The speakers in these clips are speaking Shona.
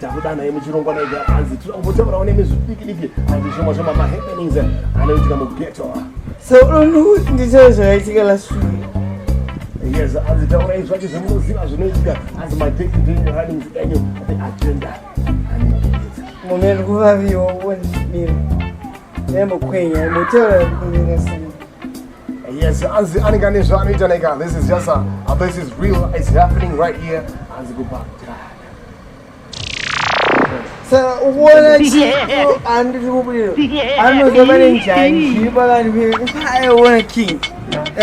takudana ye muchirongwa mega hanzi tinoda kumbotaurawo nemi zvidiki diki hanzi zvimwe zvema mahappenings anoitika mugeto so unhu ndicho zvakaitika last week yes hanzi taurai zvacho zvemunoziva zvinoitika hanzi madate ndenyu runnings enyu the agenda mune rikuvaviwo wonimira nemukwenya motaura kunyeresa Yes, anzi anenge ane zvaanoita neka this is just a, a this is real it's happening right here anzi kupa saka ukuona chiko andiri kubudiro anozova nenjanji pakati peaiona king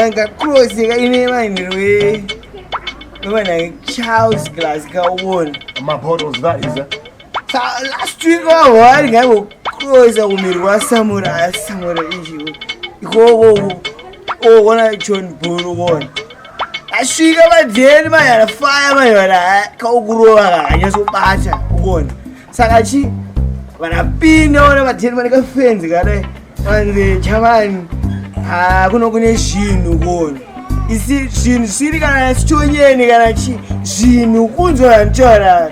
anga cross yeka ine vanhuwe vanake charles glass kaona mabottles that is a last week wavo vari ngaivo koza kumirwa samura samura izviwo ikokowo owona john bull wona asvika madheni mayana faya mayana kaukurova kakanyasubata ukona saka chi vanapinda ona madheni vane kafenzi kadai vanzi chamani hakuno kune zvinhu ukona isi zvinhu siri kana sichonyeni kana chi zvinhu kunzwa vanotaura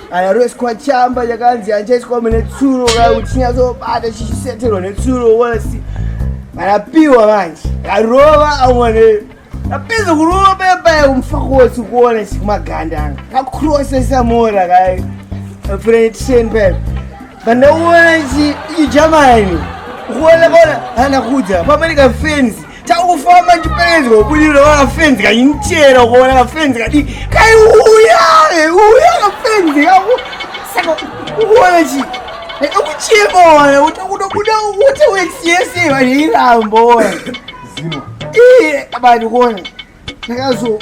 Anarweswa chamba chakanzi hanchaiswa mune tsuro kana kuti chinyazobata chichiseterwa netsuro wasi vanapiwa manje arova amwane apedza kurova payapaya kumufako wose kuona chikumaganda anga kakurosesa mora kai frentsen paya pandaona chi ijamani kuona kona hana kudza pamene kafenzi takufamba ndichiperedzwa kubudiro vakafenzi kanyinichera ukaona kafenzi kadi kaiuya uya kafenzi kako saka ukuona chii akuchema wana kuti kunobuda kuti wesiyese vanhu irambo wana zino iye bani kuona ndakazo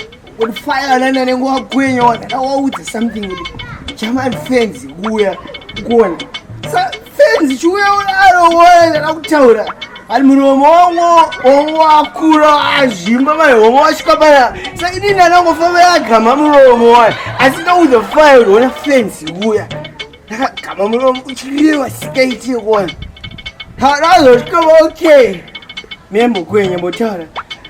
fire nana nengo wagwenya wana ndawaudza something kuti chaman fans kuuya kuona sa fans chiuya unaro wona ndakutaura ari muromo wongo wongo wakura azvimba mai homa wasvika paya sa ini ndanangofamba yagama muromo wani asi ndaudza fire kuti wona fans kuuya ndakagama muromo uchireva sikaiti kuona ndazosvika okay membo kwenya motaura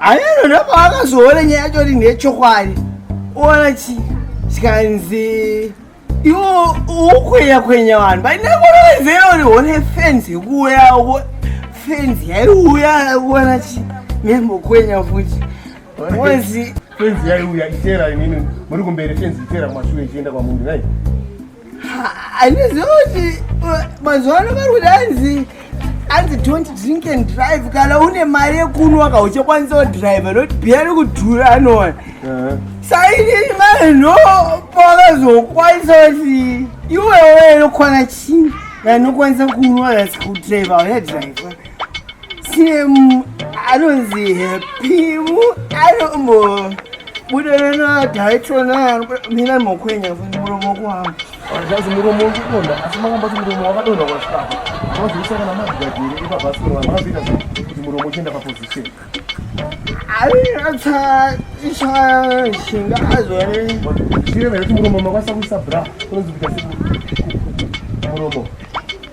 Ayeno ndopawakazoona nyaya yacho ri ndechokwadi ona chi chikanzi iwo ukwenya kwenya vanhu painakonovezeori one fenzi yekuuya fenzi yaiuya ona chi nembokwenya futi onzi fenzi yaiuya itera inini muri kumberi fenzi itera mashure ichienda kwamunhu nai handiziva kuti uh, mazuva ano vari kuti hanzi hanzi don't drink and drive kana une mari yekunwa ka uchakwanisa kudrive not biya rekudhura anoona sainini mari no pakazokwanisa kuti iwewe inokwana chii vanokwanisa kunwa asi kudrive aunadrive Simu anonzi Pimu anombo buderana taitona mina mokwenya futi muromo wako zvazi muromo wekukonda asi makamba kuti muromo wakadonha kwasvikapo mazoisa kana mazigadiri ipabhasikoro vanhu vakazoita sei kuti muromo uchienda paposition aitsa ishaya shinga azore zvichireva kuti muromo makwanisa kuisa bra kunonzi kuita muromo